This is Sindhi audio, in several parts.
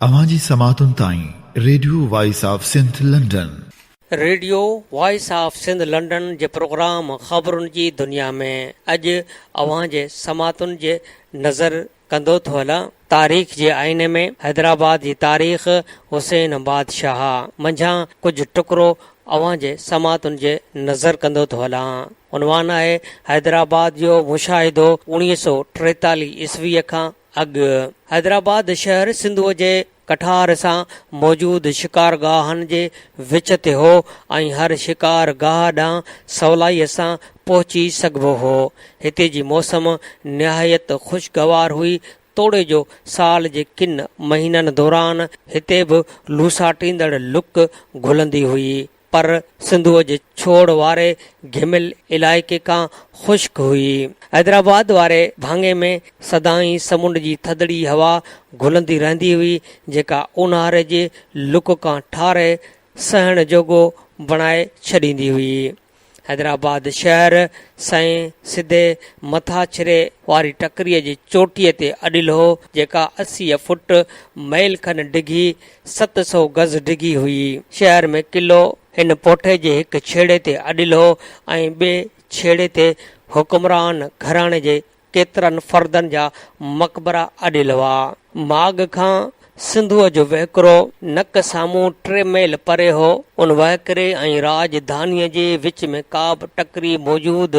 اوهان جي سماعتن تائين radio voice of Sindh London. Radio voice of Sindh London جي پروگرام خبرن جي دنيا ۾ اڄ اوهان جي سماعتن جي نظر ڪندو ٿو هلان. تاريخ جي آئيني ۾ حيدرآباد جي تاريخ حسين بادشاهه منجهان ڪجهه ٽڪرو اوهان جي سماعتن جي نظر ڪندو ٿو هلان. عنوان آهي حيدرآباد جو مشاهدو اڻيهه سؤ ٽيتاليهه عيسويء کان اڳ حيدرآباد شهر سنڌوء جي ڪٺار سان موجود شڪارگاهن جي وچ تي هو ۽ هر شڪار گاهه ڏانهن سولائيء سان پهچي سگهبو هو. هتي جي موسم نهايت خوشگوار هئي، توڙي جو سال جي ڪن مهينن دوران هتي به لوساٽيندڙ لڪ گهلندي هئي. پر سنڌوء جي ڇوڙ واري گهميل علائقي کان خشڪ هئي. حيدرآباد واري ڀاڱي ۾ سدائين سمنڊ جي ٿڌڙي هوا گهلندي رهندي هئي، جيڪا اونهاري جي لڪ کان ٺاري سهڻ جوڳو بڻائي ڇڏيندي هئي. حيدرآباد شهر سئين سڌي مٿاڇري واري ٽڪريء جي چوٽيء تي اڏيل هو، جيڪا اسيء فوٽ، ميل کن، ڊگهي، ست سؤ گز ڊگهي، هئي. شهر ۾ قلعو هن پوٺي جي هڪ ڇيڙي تي اڏيل هو ۽ ٻئي ڇيڙي تي حڪمران گهراڻي جي ڪيترن فردن جا مقبرا اڏيل هئا. ماڳ کان سنڌوء جو وهڪرو نڪ سامهون ٽي ميل پري هو. ان وهڪري ۽ راڄڌانيء جي وچ ۾ ڪابه ٽڪري موجود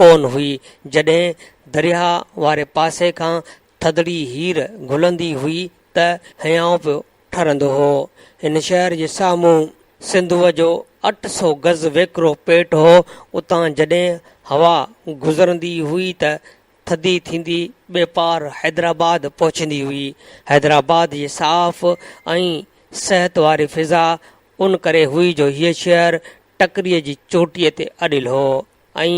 ڪونه هئي. جڏهن درياهه واري پاسي کان ٿڌڙي هير گهلندي هئي ته هيانء به ٺرندو هو. هن شهر جي سامهون سنڌوء جو اٺ سؤ گز ويڪرو پيٽ هو. اتان جڏهن هوا گذرندي هئي ته ٿڌي ٿيندي ٻي پار حيدرآباد پهچندي هئي. حيدرآباد جي صاف ۽ صحت واري فضا ان ڪري هئي جو هيء شهر ٽڪريء جي چوٽيء تي اڏيل هو. ۽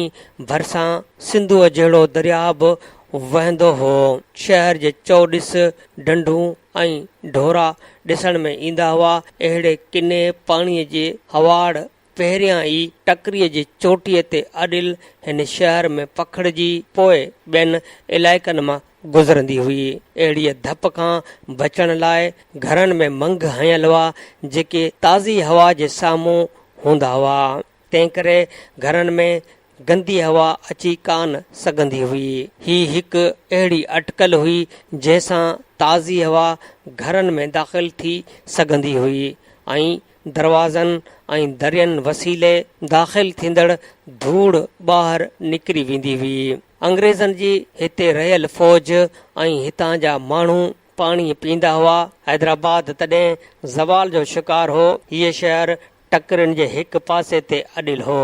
ڀرسان سنڌوء جهڙو درياء به وهندو هو. شهر جي چؤڏس ڍنڍون ۽ ڍورا ڏسڻ ۾ ايندا هئا. اهڙي ڪني پاڻيء جي هواڙ پهريان ئي ٽڪريء جي چوٽيء تي اڏيل هن شهر ۾ پکڙجي پوء ٻين علائقن مان گذرندي هئي. اهڙيء ڌپ کان بچڻ لاء گهرن ۾ منگ هنيل هئا، جيڪي تازي هوا جي سامهون هوندا هئا. تنهنڪري گهرن ۾ گندي هوا اچي ڪانه سگهندي هئي. هي هڪ اهڙي اٽڪل هئي، جنهن سان تازي هوا گهرن ۾ داخل ٿي سگهندي هئي ۽ دروازن ۽ درين وسيلي داخل ٿيندڙ ڌوڙ ٻاهر نڪري ويندي هئي. انگريزن جي هتي رهيل فوج ۽ هتان جا ماڻهو پاڻي پيئندا هئا. حيدرآباد تڏهن زوال جو شڪار هو. هيء شهر ٽڪرين جي هڪ پاسي تي اڏيل هو،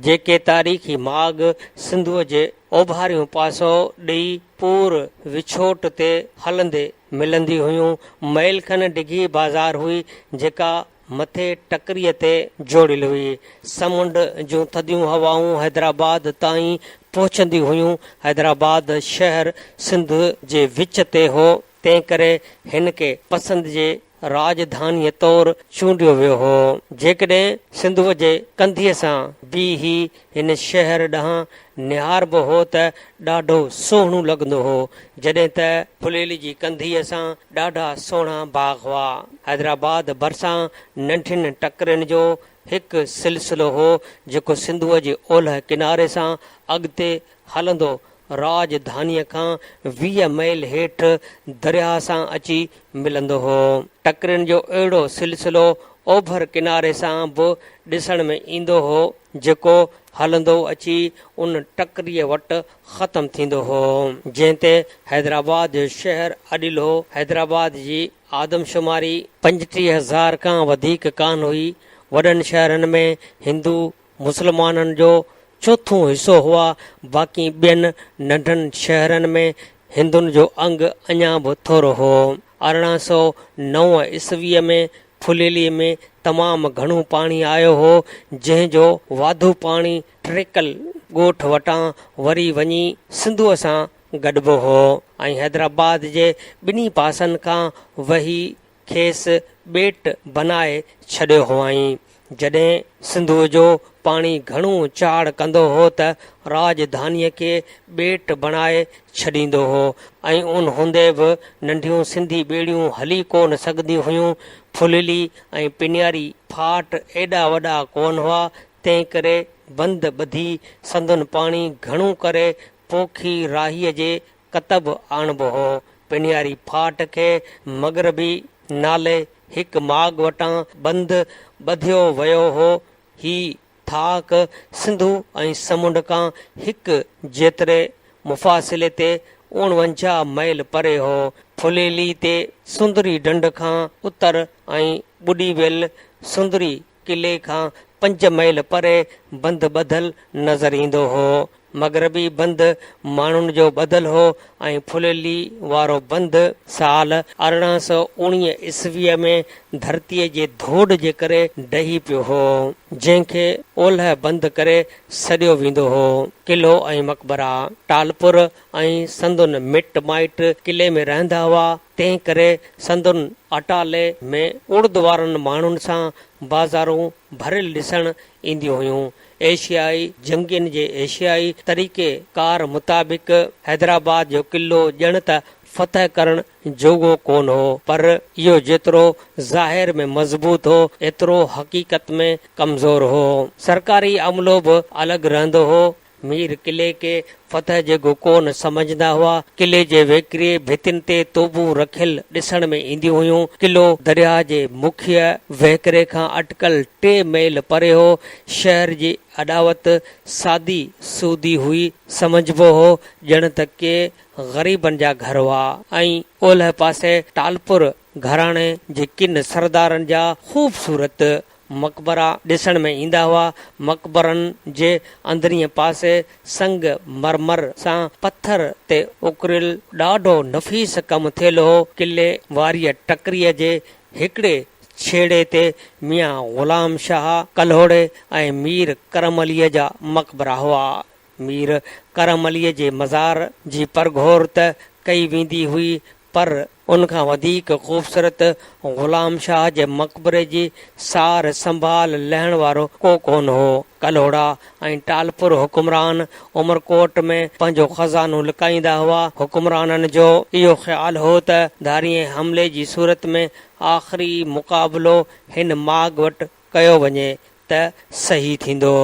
جيڪي تاريخي ماڳ سنڌوء جي اوڀاريون پاسو ڏيئي پور وڇوٽ تي هلندي ملندي هيون. مئل کن ڊگهي بازار هئي، جيڪا مٿي ٽڪريء تي جوڙيل هئي. سمنڊ جون ٿڌيون هوائون حيدرآباد تائين پهچنديون هيون. حيدرآباد شهر سنڌ جي وچ تي هو، تنهنڪري هن کي پسند جي راڄڌانيء طور چونڊيو ويو هو. جيڪڏهن سنڌوء جي ڪنڌيء سان به هي هن شهر ڏانهن نهاربو هو ته ڏاڍو سهڻو لڳندو هو، جڏهن ته. ڦليلي جي ڪنڌيء سان ڏاڍا سهڻا باغ هئا. حيدرآباد ڀرسان ننڍين ٽڪرين جو هڪ سلسلو هو، جيڪو سنڌوء جي اولهه ڪناري سان اڳتي هلندو راڄڌانيء کان ويهه ميل هيٺ درياهه سان اچي ملندو هو. ٽڪرين جو اهڙو سلسلو اوڀر ڪناري سان به ڏسڻ ۾ ايندو هو، جيڪو هلندو اچي ان ٽڪريء وٽ ختم ٿيندو هو، جنهن تي حيدرآباد جو شهر اڏيل هو. حيدرآباد جي آدمشماري پنجٽيهه هزار کان وڌيڪ ڪانه هئي. وڏن شهرن ۾ هندو مسلمانن جو چوٿون حصو هئا، باقي ٻين ننڍن شهرن ۾ هندن جو انگ اڃا به ٿورو هو. ارڙهن سؤ نو عيسويء ۾ ڦليلي ۾ تمام گهڻو پاڻي آيو هو، جنهن جو واڌو پاڻي ٽريڪل ڳوٺ وٽان وري وڃي سنڌوء سان گڏبو هو ۽ حيدرآباد جي ٻنهي پاسن کان وهي کيس ٻيٽ بنائي ڇڏيو هئائين. جڏهن سنڌوء جو پاڻي گهڻو چاڙهه ڪندو هو ته راڄ ڌانيء کي ٻيٽ بڻائي ڇڏيندو هو ۽ ان هوندي به ننڍيون سنڌي ٻيڙيون هلي ڪونه سگهنديون هيون. ڦليلي ۽ پنياري ڦاٽ ايڏا وڏا ڪونه هئا، تنهنڪري بند ٻڌي سندن پاڻي گهڻو ڪري پوکي راهيء جي ڪتب آڻبو هو. پنهياري ڦاٽ کي مغربي نالي هڪ ماڳ وٽان بند ٻڌيو ويو هو. هي ٿاڪ سنڌو ۽ سمنڊ کان هڪ جيتري مفاصلي تي اوڻونجاهه ميل پري هو. ڦليلي تي سندري ڍنڍ کان اتر ۽ ٻڏي ويل سندري قلعي کان پنج ميل پري بند ٻڌل نظر ايندو هو. مغربي بند ماڻهن جو ٻڌل هو ۽ ڦليلي وارو بند سال ارڙهن سؤ اوڻيهه عيسويء ۾ ڌرتيء جي ڌوڏ جي ڪري ڊهي پيو هو، جنهن کي اولهه بند ڪري سڏيو ويندو هو. قلعو ۽ مقبرا ٽالپور ۽ سندن مٽ مائٽ قلعي ۾ رهندا هئا، تنهن ڪري سندن اٽالي ۾ اڙد وارن ماڻهن سان بازارون ڀريل ڏسڻ اينديون هيون. ايشيائي جنگين جي ايشيائي طريقي ڪار مطابق حيدرآباد جو قلعو ڄڻ ته فتح ڪرڻ جوڳو ڪونه هو، پر اهو جيترو ظاهر ۾ مضبوط هو، ايترو حقيقت ۾ ڪمزور هو. سرڪاري عملو به الڳ رهندو هو، مير قلعي کي فتح جيگو ڪون سمجهندا هئا. قلعي جي ويڪري ڀتين تي توبون رکيل ڏسڻ ۾ اينديون هيون. قلعو درياء جي مکيه وهڪري کان اٽڪل ٽي ميل پري هو. شهر جي اڏاوت سادي سودي هئي. سمجهبو هو ڄڻ ته ڪي غريبن جا گهر هئا ۽ اولهه پاسي ٽالپور گهراڻي جي ڪن سردارن جا خوبصورت مقبرا ڏسڻ ۾ ايندا هئا. مقبرن جي اندرينء پاسي سنگ مرمر سان پٿر تي اڪريل ڏاڍو نفيس ڪم ٿيل هو. قلعي واريء ٽڪريء جي هڪڙي ڇيڙي تي ميان غلام شاهه ڪلهوڙي ۽ مير ڪرم عليء جا مقبرا هئا. مير ڪرم عليء جي مزار جي پرگهور ته ڪئي ويندي هئي، پر ان کان وڌيڪ خوبصورت غلام شاهه جي مقبري جي سار سنڀال لهڻ وارو ڪو ڪونه هو. ڪلهوڙا ۽ ٽالپور حڪمران عمرڪوٽ ۾ پنهنجو خزانو لڪائيندا هئا. حڪمرانن جو اهو خيال هو ته ڌارئين حملي جي صورت ۾ آخري مقابلو هن ماڳ وٽ ڪيو وڃي ته صحيح ٿيندو.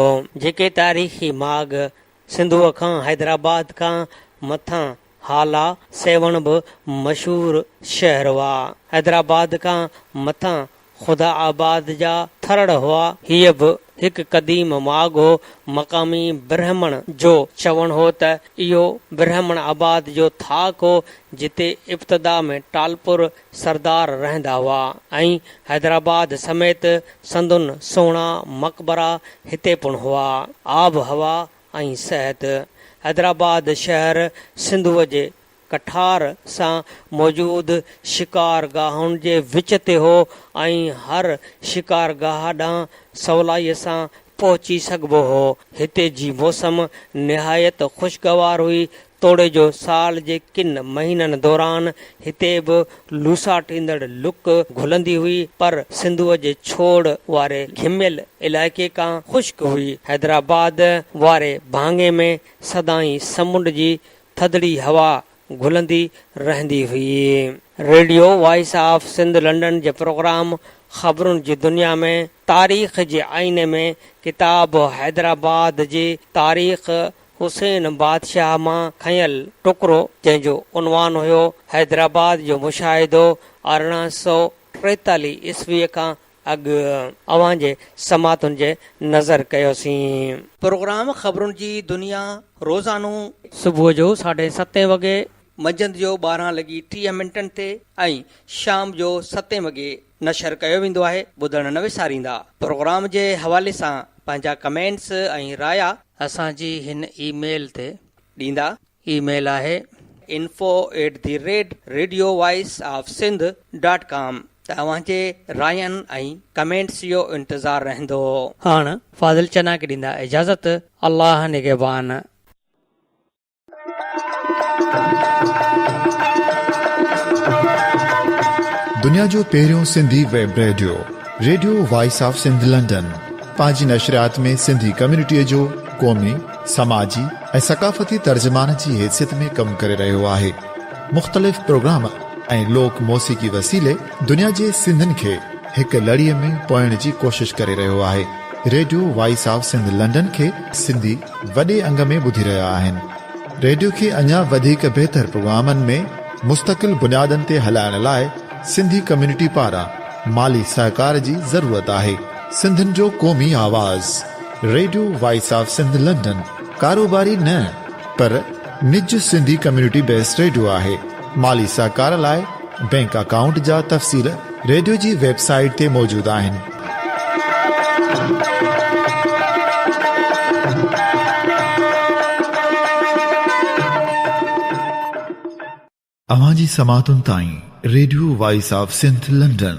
جيڪي تاريخي ماڳ سنڌوء کان حيدرآباد کان مٿان هالا سيوهڻ به مشهور شهر هئا. حيدرآباد کان مٿان خدا آباد جا ٿرڙ هئا. هيء به هڪ قديم ماڳ هو. مقامي برهمڻ جو چوڻ هو ته اهو برهمڻ آباد جو ٿاڪ هو، جتي ابتدا ۾ ٽالپور سردار رهندا هئا ۽ حيدرآباد سميت سندن سهڻا مقبرا هتي پڻ هئا. آب هوا ۽ صحت، حيدرآباد شهر سنڌوء جي ڪٺار سان موجود شڪار گاهن جي وچ تي هو ۽ هر شڪارگاهه ڏانهن سولائيء سان پهچي سگهبو هو. هتي جي موسم نهايت خوشگوار هئي، توڙي جو سال جي ڪن مهينن دوران هتي به لوساٽيندڙ لڪ گهلندي هئي، پر سنڌوء جي ڇوڙ واري گهميل علائقي کان خشڪ هئي. حيدرآباد واري ڀاڱي ۾ سدائين سمنڊ جي ٿڌڙي هوا گهلندي رهندي هئي. Radio voice of Sindh London جي پروگرام خبرن جي دنيا ۾ تاريخ جي آئيني ۾ ڪتاب حيدرآباد جي تاريخ حسين بادشاهه مان کنيل ٽڪرو جنهن جو عنوان هيو حيدرآباد جو مشاهدو ارڙهن سؤ ٽيتاليهه عيسويء کان اڳ اوهان جي سماعتن جي نظر ڪيوسين. پروگرام خبرن جي دنيا روزانو. صبح جو ساڍي ستين وڳي. منجهند جو ٻارهن لڳي ٽيهه منٽن تي ۽ شام جو ستين وڳي نشر ڪيو ويندو آهي ٻڌڻ نه وساريندا پروگرام جي حوالي سان پنهنجا ڪمينٽس ۽ رايا اسان جي هن اي ميل تي ڏيندا اي ميل آهي info at the rate radio voice of Sindh dot com ته اوهان جي راين ۽ ڪمينٽس جو انتظار رهندو. هاڻ فاضل چنا کي ڏيندا اجازت الله نگهبان. دنيا جو پهريون Sindhi web radio radio voice of Sindh London پنهنجي نشريات ۾ سنڌي ڪميونٽيء جو قومي، سماجي، ۽ ثقافتي ترجمان جي حيثيت ۾ ڪم ڪري رهيو آهي مختلف پروگرام ۽ لوڪ موسيقي وسيلي دنيا جي سنڌين کي هڪ لڙي ۾ پوئڻ جي ڪوشش ڪري رهيو آهي radio voice of Sindh London کي سنڌي وڏي انگ ۾ ٻڌي رهيا آهن ريڊيو کي اڃا وڌيڪ بهتر پروگرامن ۾ مستقل بنيادن تي هلائڻ لاء سنڌي ڪميونٽي پاران مالي سهڪار جي ضرورت آهي سنڌين جو قومي آواز radio voice of Sindh London ڪاروباري نه پر نج سنڌي ڪميونٽي بيس ريڊيو آهي مالي سهڪار لاء بينڪ اڪائونٽ جا تفصيل ريڊيو جي ويب سائيٽ تي موجود آهن اوهان جي سماعتن تائين radio voice of Sindh London